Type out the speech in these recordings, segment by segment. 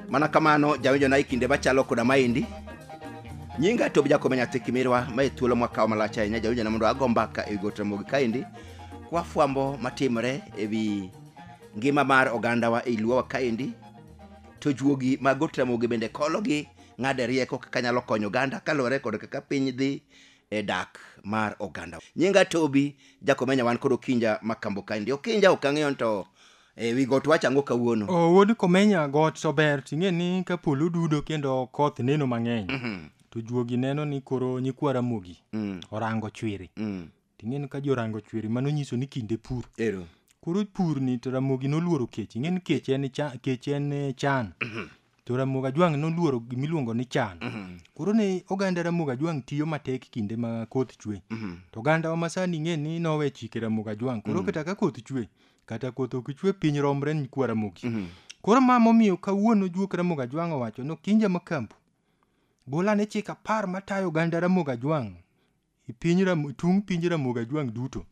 mana kamano jawinjona e kinde machalo koda maendi nyinga to bijakome nyathi kimirwa ma e thuolo mwakawo malach ahinya jawinjona mondo ago mbaka e wi gote mogi kaendi kwafwambo matimore e wi ngima mar ogandawa e luowa kaendi to juogi mag Got Ramogi bende kologi ng'ade rieko kaka nyalo konyo oganda kaluwore kod kaka piny dhi e dak mar oganda. Nyinga Tobi Jakomenya wan kod Okinja ma Kambo kae ndi. Okinja ok ang'eyo nto e wi got wacho ang'o kawuono. O, wuod komenya got to ber ting'e ni ka polo dudo kendo koth neno mang'eny to juogi neno ni koro nyikwa ramogi orango chwiri Ting'e ni ka jorango chweri mano nyiso ni kinde pur. Ero. Koro pur ni to Ramogi noluoro kech. Ing'e ni kech en cha, kech en eh, chan. To Ramogi Ajwang' noluoro gimiluongo ni chan. Koro ne oganda Ramogi Ajwang' tiyo matek kinde ma koth chwe. To oganda wa masani ing'e ni nowe chike Ramogi Ajwang'. Koro kata ka koth chwe, kata koth ok chwe piny romre ni kwa Ramogi. Koro ma momiyo kawuono juok Ramogi Ajwang' owacho ni Okinja Makambu gol ane chik apar matayo oganda Ramogi Ajwang' I piny Ram- tung piny ramogi ajwang' duto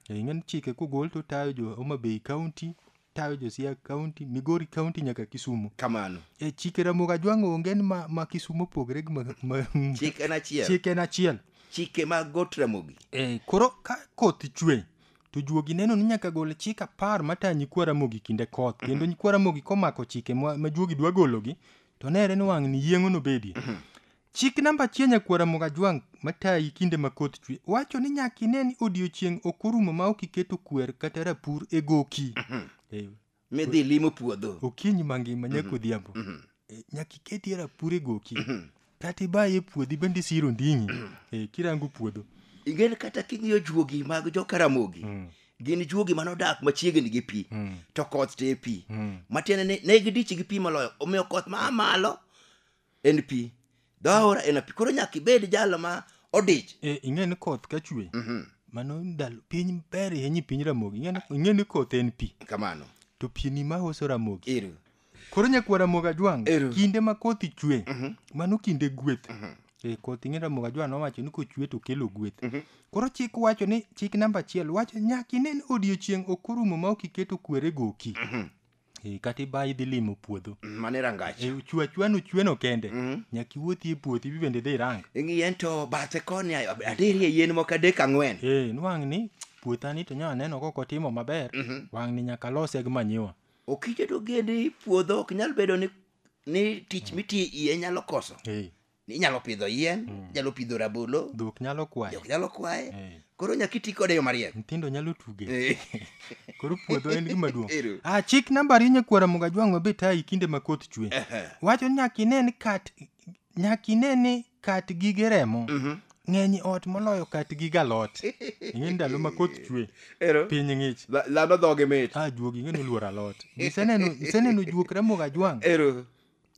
Eh, ing'e ni chike kogol to tayo jo homa bay county tayo jo siaya county migori county nyaka kisumo kamano e chike ramogi ajwang' onge ni ma, ma kisumo opogre gi ma, ma, chik en achiel chike en achiel chike mag got ramogi Eh, koro ka koth chwe to juogi neno ni nyaka gol chik apar matayo nyikwa ramogi kinde koth kendo nyikwa ramogi komako chike ma, ma juogi dwa gologi to nere ni wang' ni yieng'o nobedie Chik namba achiel nyakwara Mogajwang' matayi kinde ma koth chwe wacho ni nyaka ine ni odiechieng' ok orumo ma ok iketo kwer kata rapur e goki. Eh, Midhi limo puodho. Okinyi mangima nyaka odhiambo. Eh, Nyaka iketie rapur e goki. Kata ibaye e puodhi bende isiro nding'i eh, kirango puodho. Ingen kata king'iyo juogi mag jokaramogi. Gin juogi mane odak machiegni gi pi. To koth to e pi. Matiende ni ne gidichi gi pi moloyo. Omiyo koth ma a malo en pi dho aora en pi koro nyaka ibed jalo ma odich e, ing'e ni koth ka chwe mhm. mano ndalo piny ber ahinya piny ramogi ing'e ni koth en pi kamano to pi ni ma uso ramogi iru koro nyakwa ramogi ajwang kinde ma koth chwe mhm. mano kinde gweth mhm. e, koth ing'e ramogi ajwang nowacho ni kochwe to kelo gweth koro chik wacho ni chik namba achiel wacho nyaka ine ni odiechieng' ok orumo ma ok iketo kwere goki Eh, kata iba idhi limo puodho mano e rangach Eh, chwe achwa nuchweno kende nyaka iwuothi e puothi ibi bende idhi irang yien to bathe koni adirie yien moko adek ang'wen Eh, nwang' ni puothani to nya neno kok otimo maber wang' ni nyaka lose gi manyiwa okije to geni puodho ok nyal bedo ni ni tich mitie iye nyalo koso Eh, inyalo pidho yien mm. inyalo pidho rabolo dhok nyalo kwaye dhok nyalo kwaye hey. Eh. koro nyaka iti kode yo mariek nyithindo nyalo tuge eh. koro puodho en gima duong ah chik namba ri nyakwara muga jwang mabe tayi kinde ma koth chwe wacho nyaka ine ni kat nyaka ine ni kat gige remo mm -hmm. ng'eny ot moloyo kat gi galot ing'e ndalo ma koth chwe piny ng'ich dhano dhoge mit a ah, juogi ing'e noluor alot iseneno iseneno juok ramoga jwang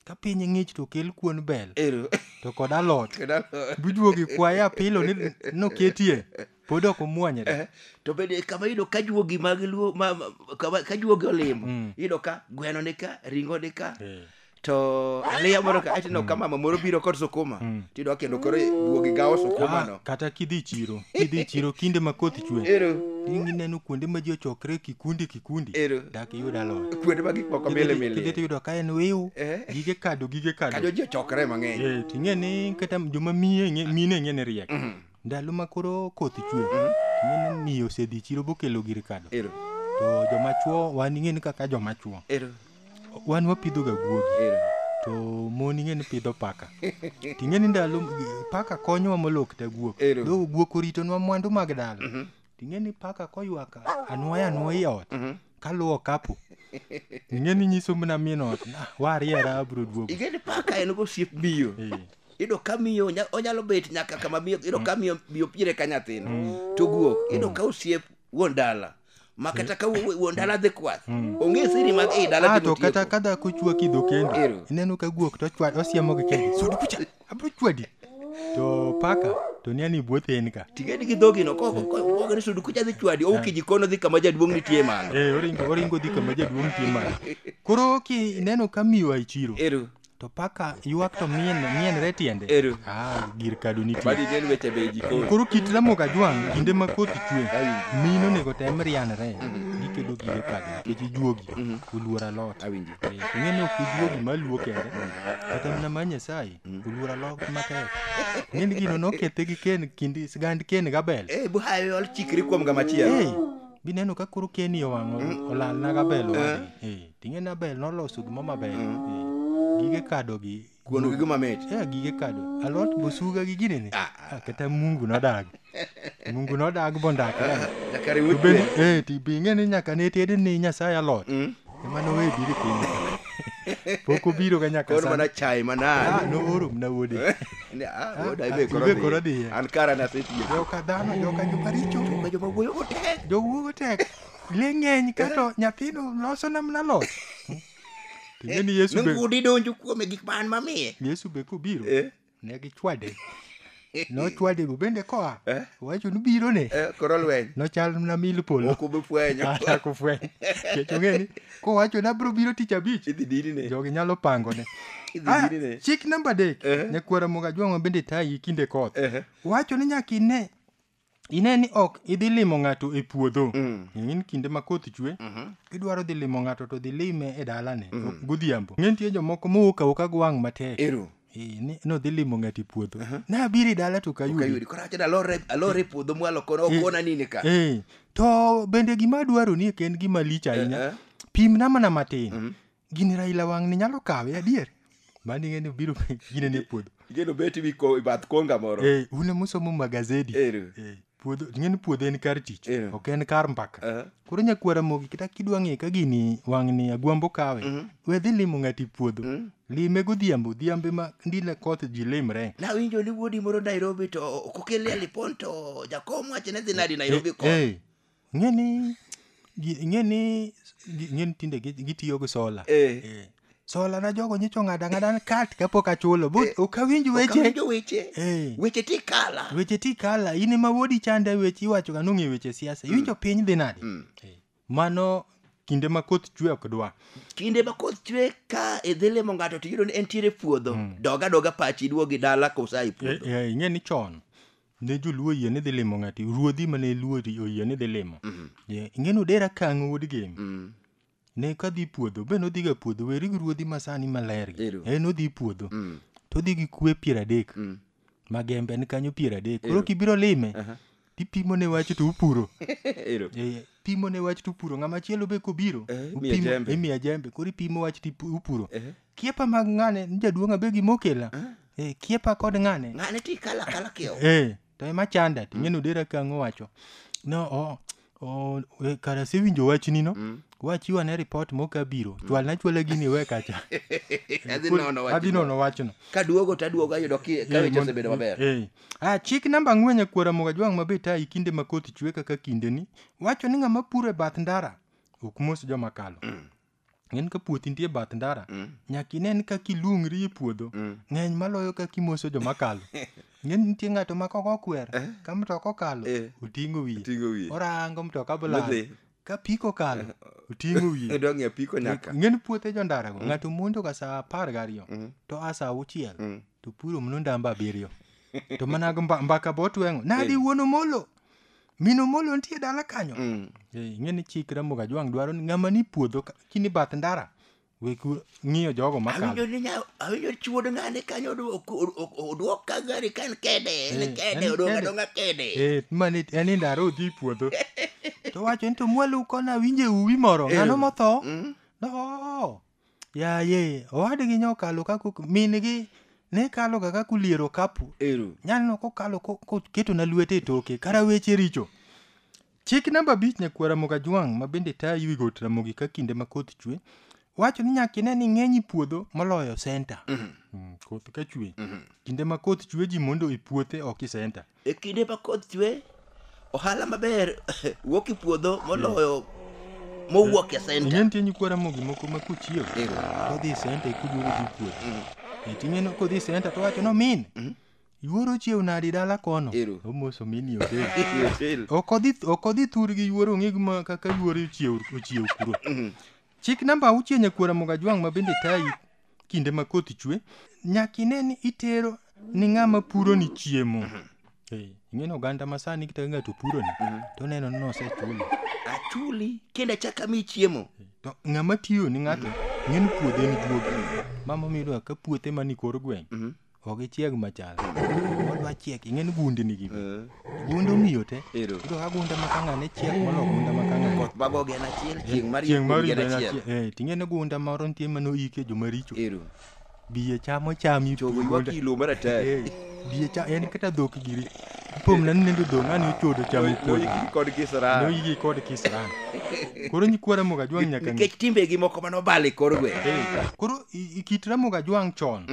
Ka piny ng'ich to kel kuon bel Ero. to kod alot. Kendo alot. Biduogo ikwaye apilo ni noketie pod ok omwonyre. Eh, to bende kama iyudo ka juogi mag luo ma, ma- kama, ka juogi olimo Mm. iyudo ka gweno ni ka ringo ni ka Eh. to aliya moro ka atineno ka mama moro biro kod sukuma Mm. tiyudo ka kendo koro juogi gawo Ah, sukumano kata kidhi chiro kidhi chiro kinde ma koth chwe ero ineno kuonde ma ji ochokre kikundi kundi Ero. dak iyud aloyo kuonde ma gik moko Kidhi- mili kidhi mili tiyudo ka en wiu Eh. gige kado gige kado kajo ji ochokre mang'eny Eh, ting'e ni kata joma miye ng'e- mine ng'e ni riek Mhm. ndalo ma koro koth chwe ting'e ni miyo osedhi chiro bokelo gir kado ero to joma chuo wan ing'e ni kaka joma chuo ero wan wapidhoga guogi ero to mon ing'e ni pidho paka ting'e ni ndalo paka konyowa moloo kata guok Ero. do guok oritonwa mwandu mag dala Ting'e ni paka koywak anwoya anwoya i ot Mhm. kaluwo kapo. Ing'e ni nyiso mna min ot na wariera abro duogo. ing'e ni paka en go osiep miyo Eh, iyudo ka miyo onya- onyalo bet nyaka kama miyo iyudo ka miyo miyo pire ka nyathine to guok iyudo ka osiep wuon dala ma kata ka wuo- wuon dala dhi kwath ong'e siri mag ei dala Ah, timo to kata tieko. ka dhako chwaki dho kendo Ero. ineno ka guok to ochwa- osiemo gi kende sudi kucha abro chwadi to paka to ni ani buoth en ka tigedi gi dhogi no koko koko ni sudu kucha dhi chwadi ou kiji kono dhi kama jaduong' nitie mano eh oringo oringo dhi kama jaduong' tie mano koro ki ineno ka miwa e chiro eru to paka ywak to mien mienre tiende Eru. ah gir kado nitie badi nen weche be jikoni koro kit ramoga jwang' kinde ma koth chwe mino onego tem rianre gikedo gige kado nikech ijuogi oluor alot awinji Eh, to ing'e ni ok iluo gima luo kende kata mana ma nyasaye oluor alok matek ing'e ni gino nokethe gi ken kindi sigand ken gabel Eh, bu hayo ol chikri kuom gama chielo. Hey, bineno ka koro keni owang'o olalna gabel owade Eh, ting'e ni abel noloso gimo maber Eh, gige kadogi Kuon gi gima mit. Eh, gige kado. Alot bosuga gi gine ne. Ah, ah, Ah, kata mungu nodag. Mungu nodag bondak. ah, Nyaka riw To bende chwe. eh ti binge ni nyaka ne ted ni Nyasaye alot. Mm. Ema no we biri piny. Pok obiro ga nyaka Koro sani. mana chai Ah, manade. no oro mna wuode. Ni, ah, wuod, ah, ibe koro ibe koro dhiye. dhiye. An kara nasetiyo. Joka dhano, joka joma richo. Joka joma wuoyo matek. Jowuogo tek. Le ng'eny kato nyathino loso namna lot. To ing'e ni Yesu be Ngudi donjo kuome gik man mamiye. Yesu be kobiro Eh. ne gichwade. Nochwade bo bende koa. Eh. Wacho ni biro ne. Eh, Koro lweny. Nochal na mil polo. Ok obi fwenyo. Kata kufweny. Kech ong'e ni kowacho ni abiro biro tich abich. Idhi dini ne. Jogi nyalo pango ne. Idhi Ah, dini ne. chik namba adek Eh. nyakwara moga jwang'o bende tayi kinde koth Eh. wacho ni nyaka ine ine ni ok idhi limo ng'ato e puodho in kinde ma koth chwe idwaro dhi limo ng'ato to dhi lime e dalane godhiambo ng'e nitie jomoko mowuok awoka gi wang' matek Ero. Eh, ni- nodhi limo ng'ato e puodho nabiro e dala to kayudi Kayudi koro awacho ni alore alore e puodho mwalo kono okona nini ka. Eh, to bende gima adwaro ni en gima lich ahinya Eh, eh. pimna mana matin Gini Raila wang' ni nyalo kawe adier. Mani ng'e ni obiro gine ne puodho. Igeno beti wi ko- bath konga moro. Eh, un ema usomo magazedi. Ero. Eh, puodho ing'e ni puodho en kar tich Ero. ok en kar mbaka Aha. koro nyakwara mogi kata kidwa ng'e ka gini wang'ni agwambo kawe we dhi limo ng'ati puodho lime godhiambo odhiambo ema ndile koth ji limre Nawinjo ni wuodi moro Nairobi to kokele alipon to jakom wacho ni dhi nadi Nairobi ko. Eh, Ing'e ni gi- ing'e ni gi- ing'e ni tinde gi- gitiyo gi sola. Eh. Eh. Sola na jogo nyicho ng'ada ng'ada ni kat kapok achulo. But ok awinj weche. Okawinjo weche Eh. weche tikala Weche ti kala in ema wodi chande weche iwacho ga nong'e weche siasa. Iwinjo piny dhi nade? Eh. Mano kinde ma koth chwe ok dwa. kinde ma koth chwe ka idhi limo ng'ato to iyudo ni entiere e puodho doga doga pachi iduogi dala kosa e puodho Eh, eh, ing'e ni chon ne joluo yie ni dhi limo ng'ati ruodhi mane luo ri- oyie ni dhi limo Ye, ing'eni odera kang' wuod gem Mm. ne kadhi puodho be nodhiga puodho weri gi ruodhi masani maler gi Ero. e nodhi puodho Mm. to odhi gi kwe piero adek Mm. magembe ni kanyo piero adek koro kibiro lime Aha. tipimo ne wach to upuro Ero. Eh, pimo ne wach to upuro ng'ama chielo be kobiro Eh, imiye upimo- jembe. imiye jembe koro ipimo wach to ipu- upuro Eh. kiepa mag ng'ane ni jaduong' abe gima okela Eh, kiepa kod ng'ane ng'ane ti kala kala kiewo Eh, to ema chanda to ing'e nodera ka ang'o wacho no o o e, kara asewinjo wachni no wachiwa ne ripot moka biro chwalna chwala gini iwe kacha adhi nono wach adhi nono wachno kaduogo taduogo ayudo ki- ka Eh, weche mond- osebedo maber eh. Ah, chik namba ang'wen e kwara moga jwang' mabe tayi kinde ma koth chwe kaka kindeni wacho ni ng'ama puro e bath ndara ok mos joma kalo en ka puothi nitie bath ndara mm. nyaka inen ka kilungri e puodho mm. ng'eny maloyo ka kimoso joma kalo ng'eny nitie ng'ato ma kok okwer eh. ka mtoka okalo eh. oting'o wiye orango mtoka bolal ka piko kalo eh. oting'o wiye ng'eny puothe jo ndarago mm. ng'ato mondo ka saa apar gariyo mm. to a saa auchiel mm. to puro mno ndamba abiriyo to mana mbaka botweng'o nadi wuon omolo Mino molo nitie dala kanyo. Mm. Eh, Ing'e ni chik Ramogi Ajwang' dwaro ni ng'ama ni puodho ka- kini bath ndara. Wek u- ng'iyo jogo Awinjo makalo. ni nya- awinjo chuod ng'ane kanyo odu- ok- ok- ok- oduok ka gari ka en kede, en Eh, kede, en odong' kede. adong'a kede. Eh, mani en ni ndara odhi e puodho. To wacho ni to mwalo kona winje uwi moro. Ng'ano motho? Mm. No. Yaye, owadgi nyokalo kako mingi ne kalo ga kako liero kapu. Ero. Nyalno kokalo ko- koketo na lwete e toke kara weche richo. Chik namba abich nyakwar Ramogi Ajwang' ma bende tayo wi got Ramogi ka kinde ma koth chwe wacho ni nyaka ine ni ng'eny i puodho moloyo senta. Mm, koth ka chwe. Kinde ma koth chwe ji mondo i puothe ok i senta. E kinde ma koth chwe, ohala maber wuok e puodho moloyo mowuok e senta. Ineno tinyi kwara mogi moko ma kuchiyo. Kodhi senta ikuduogo gi puodho. E ting'eno kodhi senta to wacho no min. Yuoro chiew nadi dala kono. Ero. Omoso min yo del. Otel. Okodhi okodhi thur gi yuoro ng'ig ma kaka yuoro chiew ochiew kuro. Chik namba auchiel nyakwara Mogajwang' ma bende tayi kinde ma koth chwe, nyaka ine ni itero ni ng'ama puro ni chiemo. Eh, Ing'eni oganda ma sani kata ka ng'ato puro ni, to oneno ni nosechulo. Achuli kendo achaka mi chiemo. To ng'ama tiyo ni ng'ato, ing'eni puodhe ni duogi. Mama miyudo ka puothe mani kor gweng', ok ichieg machal odwa chiek ing'eni gundi nigi bi Eh, gund omiyo te Ero. iyudo ka gunda ma kanga ne chiek molo gunda ma kanga koth mago gen achiel chieng' mar chieng' mar gen yudo achiel achiel ting'eni gunda moro nitie mane oike joma richo ero biye chamo chami chogo ywak ilo maratari Eh, biye cha en kata dhok giri Pom na nendo do ngani ochodo chamo kuodo. Noyigi kod kisran. Noyigi kod kisran. Koro nyikwa Ramogi Ajwang nyaka ng'e. Nikech timbegi moko mane obalo e kor gweng'. Eh, Koro i- i- kit Ramogi Ajwang chon.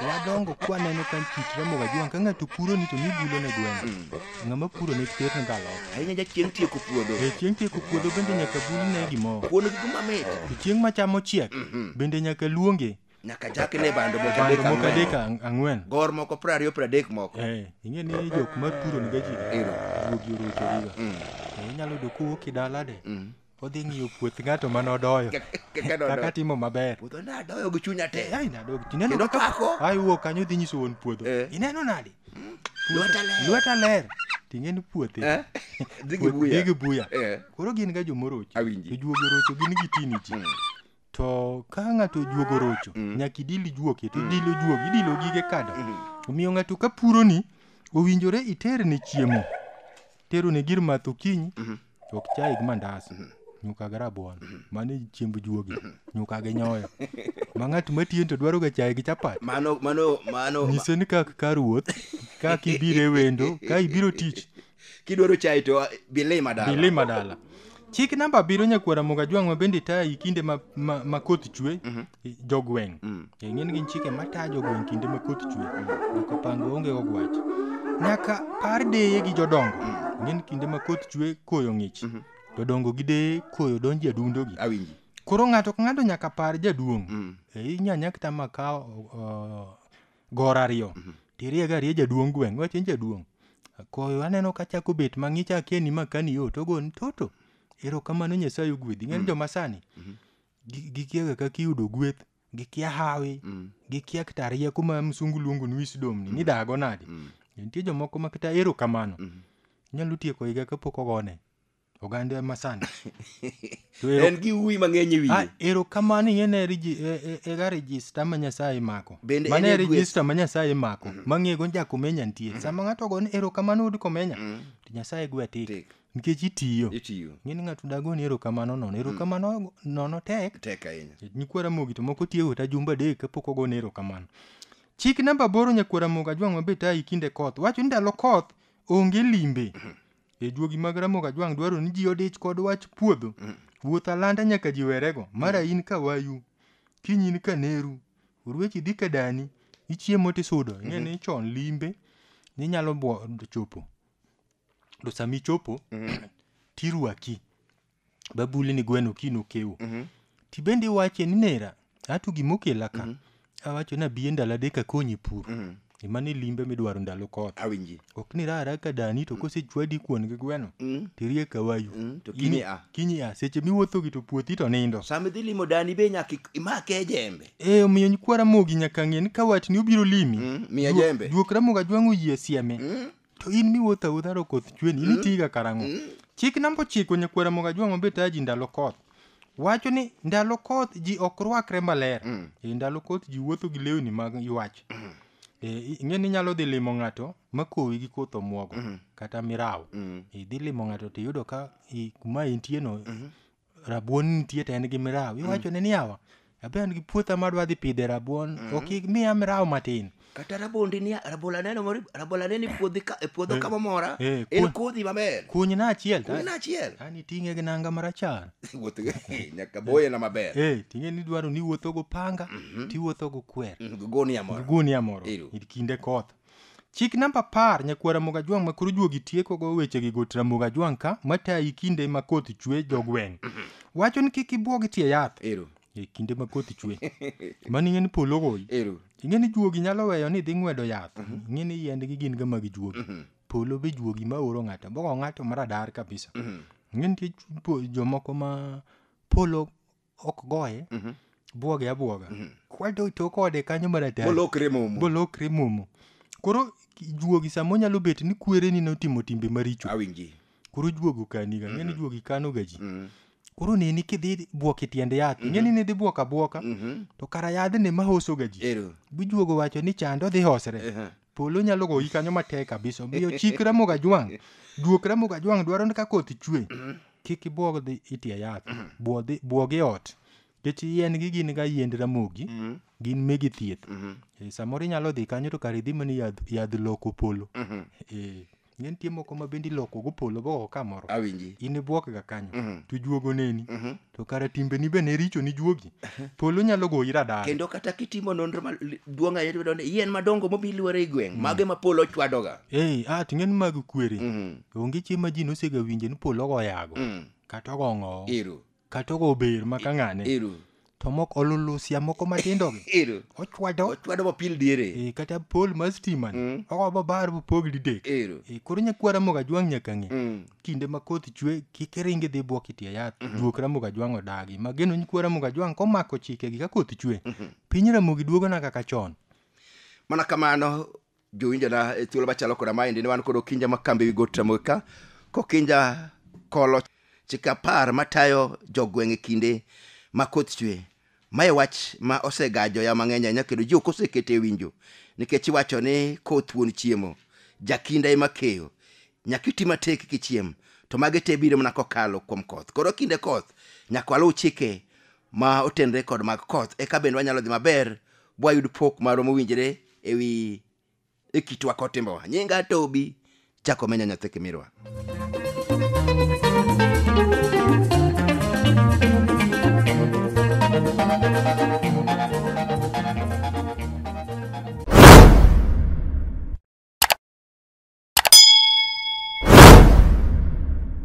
Wadongo kwaneno ka kit Ramogi Ajwang ka ng'ato puro ni to mibulo ne gweng'. Ng'ama puro ne ter ne galo. Ahinya ja chieng' tieko puodho. Eh, chieng' tieko puodho bende nyaka bul ne gimoro. Kuon gi gima mit. To chieng' machamo chiek bende nyaka luonge. nyaka chaki ne bando moko adek bando moko ang'wen. adek ang- ang'wen gor moko piero ariyo piero adek moko Eh, ing'e ni jok ma puro niga ji Ero. ruogi orochoriga Mm, Eh, inyalo yudo kowuok e dalade mm. odhi ng'iyo puoth ng'ato mane odoyo Ka- ka- ka dodo. kaka timo maber puodho nadoyo gi chunya te ai nadog tineno Kendo kaka pako. ai wuok kanyo dhi nyiso wuon puodho Eh. ineno nade Lweta ler. lweta ler ting'e ni puothe Eh? Dhi gi Puoth- buya. dhi gi buya Eh. koro gin ga jomorochi Awinji. to juogi orocho gin gitini ji Mm. To ka ng'ato ojuogo rocho, Mm. nyaka idil ijuoke, to Mm. idilo juogi, idilo gige kado. Mm. Omiyo ng'ato ka puroni, owinjore iterne chiemo. Terone gir math okinyi, Mhm. ok chai gi mandas, Mhm. nyuka gi rabuon, mano e chiemb juogi, nyuka gi nyoyo. Ma ng'at matiyeni to dwaroga chai gi chapat. Mano, mano, mano. Nyise ni kak ka ruoth, kak ibiro e wendo, ka ibiro tich, kidwaro chai to ah, bilima dala bilima dala chik namba abiriyo nyakwara moga jwang' ma bende taya i kinde ma, ma, ma koth chwe mm-hmm. jogweng' mm. ing'e ni gin chike mataya jogweng' kinde ma koth chwe mm. nyaka pango onge ogwach nyaka par deye gi jodongo mm. ing'e ni kinde ma koth chwe koyo ng'ich mm-hmm. jodongo gi deye koyo donji adundogi awinji koro ng'ato ka ng'ato nyaka par jaduong' mm. e, inyanya kita makawo uh, gora ariyo Mhm. tirie ga rie jaduong' gweng' iwacho ni jaduong' koyo aneno ka chako bet mang'ich akia ni makani yo to ogoni toto erokamano nyasaye ogwedhi ng'eyo ni joma sani Mhm. gi- gikiaga kaka iyudo gweth gikia hawi Mm, gikia kata rieko ma msungu luongo ni wisdom ni nidago nade mm, nitie jomoko ma kata erokamano mm. nyalo tieko higa kapok ogone oganda masani To ero- en gi uwi mang'eny e Ah, wiye erokamano ing'e ne regi- e- e- ega rejista ma nyasaye mako Bende mane en e gweth. rejista ma nyasaye mako mang'ego ja komenya nitie sama ng'ato ogone erokamano wuod komenya to nyasaye gwe tik Tik. nikech itiyo itiyo ng'eni ng'ato dagoni erokamano nono erokamano nono tek tek ahinya nyikwara mogi to moko tiyo ta jumbe adek kapok ogone erokamano chik namba aboro nyakwara mogo ajwang' mabe tayi kinde koth wacho ni ndalo koth onge limbe e juogi mag Ramogi Ajwang' dwaro ni ji odich kod wach puodho. Wuoth alanda nyaka ji werego. Mara in ka wayu, kiny in ka neru, oruechi dhi ka dani, ichiemo tisudo. Ing'e ni chon limbe ninyalo bwo- chopo. To sami chopo, tirwaki. babuli ni gweno kino kewo Mhm. tibende iwache ni nera ato gimokela ka awacho ni abiye ndalo adek akonyi pur Mhm. emane limbe midwaro ndalo koth awinji ok ni rara ka dani to kosechwadi kuon gi gweno Mm. tirie kawayu Mm, to kiny a. kinyi a seche miwuotho gi to puothi to nindo sama idhi limo dani be nyaka ik- imake jembe e omiyo nyikwara mogi nyaka ng'e ni ka watni obiro limi Mm, miya duok- jembe. duok ramoga jwang'o yie sieme Mm. To in miwuotho awuotha to koth chweni, in itiga karang'o? Chik namba ochiko nyakwar Ramogi Ajwang' mabe tayo ji ndalo koth. Wacho ni ndalo koth ji ok rwakre maler. E ndalo koth ji wuotho gi lewni mag ywach. E, i- ing'e ni inyalo dhi limo ng'ato ma kowi gi koth omwogo kata mirawo. Idhi limo ng'ato to iyudo ka i- kuma intieno rabuon nitie to en gi mirawo iwachone ni yawa abe an gi puotha madwa dhi pidhe rabuon ok imiya mirawo matin kata rabondi ni rabola neno mori rabola neno e puodhi ka e puodho kama mora eh, en kuon- kodhi maber kunyna achiel to- kunyna achiel an iting'e gi nanga marachar wuoth nyaka boye na maber Eh, ting'e ni dwaro ni iwuotho go panga tiwuotho go kwer goni amora gunia moro Ero. e kinde koth Chik namba apar, Nyakwar Ramogi Ajwang' ma koro juogi tiekogo wechegi got Ramogi Ajwang' ka matayi kinde ma koth chwe jogweng'. Wacho ni kik ibwogi tie yath Ero. e kinde ma koth chwe. Mano ing'e ni polo goyi. Ero. Ing'e ni juogi nyalo weyo ni dhi ng'wedo yath. Ing'e ni yiendgi gin ga mag juogi. Polo be juogi ma oro ng'ato. Bogo ng'ato maradar kabisa. Ing'e nitie ju- po- jomoko ma polo ok goye Mhm. bwoge abwoga Mhm. kwato to kode kanyo mar atari Bolokre momo. bolokre momo koro juogi sama onyalo bet ni kwereni notimo timbe maricho Awinji. koro juogi okaniga ng'eni juogi kanoga ji Mhm. koro neni kidhi bwok e tiend yath ng'eni nidhi bwok abwoka Mhm. to kara yadhni ma hosoga ji Ero. bijuogo wacho ni chande odhi hosre Ehe. Polo nyalo goyi kanyo matek kabisa. Omiyo chik Ramogi Ajwang'. Duok Ramogi Ajwang' dwaro ni ka koth chwe, kik ibuog dhi itie yath. Buo dhi- Buog e ot. Nikech yien gi gin ga yiend Ramogi, gin megi thieth. Eh, Samoro inyalo dhi kanyo to kare idhi mana yadh yadh loko polo. Eh. ne nitie moko ma bende iloko go polo go kamoro awinji in ibuok ga kanyo Mhm. to juogo neni Mhm. to kara timbeni be ne richo ni juogi polo nyalo goyi radar kendo kata kitimo nonro ma li- duong' ahinya tiyudo ni yien madongo momi luoro e gweng' mage ma polo chwadoga eh ah ting'en mag kwere Mhm. onge chieng' ma ji nosega winje ni polo go yago Mm. kata ogong'o ero Kata ogo ber ma ka ng'ane. Ero. To mok olulusia moko matindo gi. Ero. Ochwado. Ochwado mapil diere. E, kata pol mar stima ni. Mm. Ogo babar bupog didek. Ero. E, koro nyakwara moga jwang' nyaka ng'e. Mm. Kinde ma koth chwe kik iringi dhi bwok itie yath. Mm -hmm. Duok ramoga jwang' odagi. Mageno nyakwara moga jwang' komako chike gi ka koth chwe. Mm -hmm. Piny ramogi duogona kaka chon. Mana kamano jowinjona e thuolo machalo koda maendi ne wan kod okinja ma kambi wi got ramogi ka kokinja kolo chike apar matayo jogweng' e kinde ma koth chwe mae wach ma osegajo ya mang'eny ahinya kendo ji ok osekete winjo nikech iwacho ni koth wuon chiemo jakinda ema keyo nyaka iti matek kichiem to magi te biro mana kokalo kuom koth koro kinde koth nyaka waluw chike ma otenre kod mag koth eka bende wanyalo dhi maber bwayud pok marwa mowinjore e wi e kitwa kod timbewa nyinga tobi chako menya nyathi kimirwa